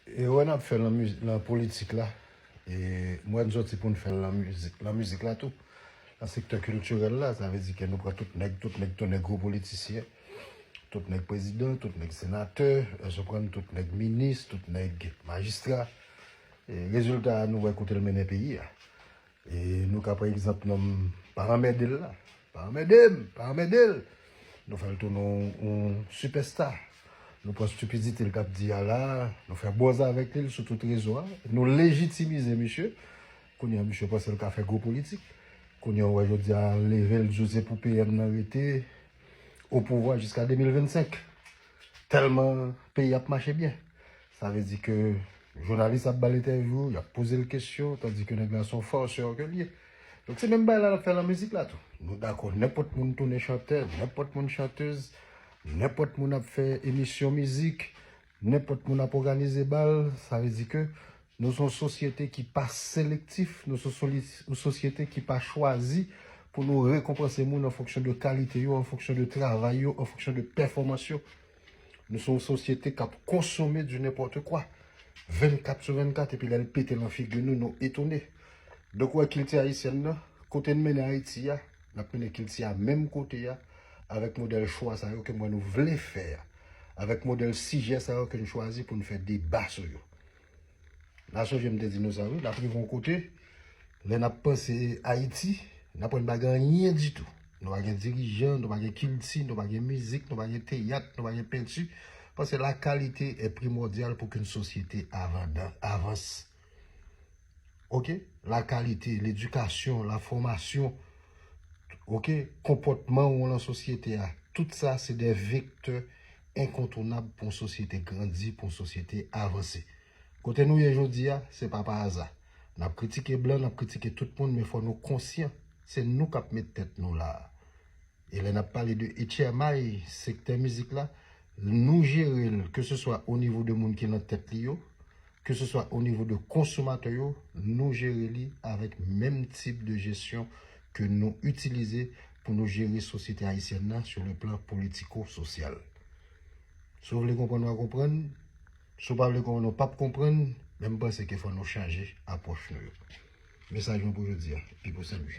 Erè n ap fè nan politik la, m wè n soti pou n fè l nan mizik la tou. Nan sektè kiltirèl la, sa vle di ke nou pran tout nèg, tout nèg tounen gwo politisyen, tout nèg prezidan, tout nèg senatè, èske w konprann, tout nèg minis, tout nèg majistra. Rezilta a nou wè kote l mennen peyi a. E nou ka pran egzanp nonm pa anmède l la. Pa anmède m, pa anmède l. Nou fè l tounen yon sipèsta. Nou pran stipidite l t ap di a la, nou fè bòz avèk li sou tout rezo a. Nou lejitimize misye. Kounye a misye panse l ka fè gwo politik. Kounye a ou wè jodi a leve l di w se pou PM nan rete opouvwa jiska 2025. Tèlman peyi ap mache byen. Sa vle di ke jounalis ap ba l entèvyou, y ap poze l kesyon, tandi ke nèg la se yon farceur ke l ye. Donk se menm bagay la n ap fè lan mizik la tou. Nou dakò nenpòt moun tounen chantè, nenpòt moun chanteuz, nenpòt moun ap fè emisyon mizik, nenpòt moun ap òganize bal, sa vle di ke Nou son sosyete ki pa selektif, nou son yon sosyete ki pa chwazi pou nou rekonpanse moun an fonksyon de kalite yo, an fonksyon de travay yo, an fonksyon de pèfòmans yo. Nou son yon sosyete k ap konsome di nenpòte kwa, 24 sou 24, epi lè l pete lan figi nou, nou etone. Donk ou wè kilti ayisyèn nan, kote n mennen Ayiti a, n ap mennen kilti a menm kote a, avèk modèl chwa sa yo ke m wè nou vle fè a, avèk modèl sijè sa yo ke n chwazi pou n fè deba sou yo. La sonje m te di nou sa wi, l ap rive yon kote, lè n ap panse Ayiti, n ap wè n pa gen anyen ditou. Nou pa gen dirijan, nou pa gen kilti, nou pa gen mizik, nou pa gen teyat, nou pa gen penti, paske la kalite e primòdyal pou ke yon sosyete avanse. ok, la kalite, ledikasyon, la fòmasyon, ok, konpòtman ou lan sosyete a, tout sa se de vektè enkontounab pou yon sosyete grandi, pou yon sosyete avanse. Kote nou ye jodi a, se pa pa aza. N ap kritike blan, n ap kritike tout moun, men fò nou konsyan, se nou k ap met tèt nou la a. E lè n ap pale de etchèmay sektè mizik la, nou jere l, ke se swa o nivo de moun ki lan tèt li yo, ke se swa o nivo de konsomatè yo, nou jere li avèk menm tip de jesyon ke nou itilize pou nou jere sosyete ayisyèn nan sou le plan politiko-sosyal. Si w vle konprann w a konprann, si w pa vle konprann w pap konprann, men m panse ke fò nou chanje apwòch nou yo. Mesaj mwen pou jodi a, Pipo Senlwi.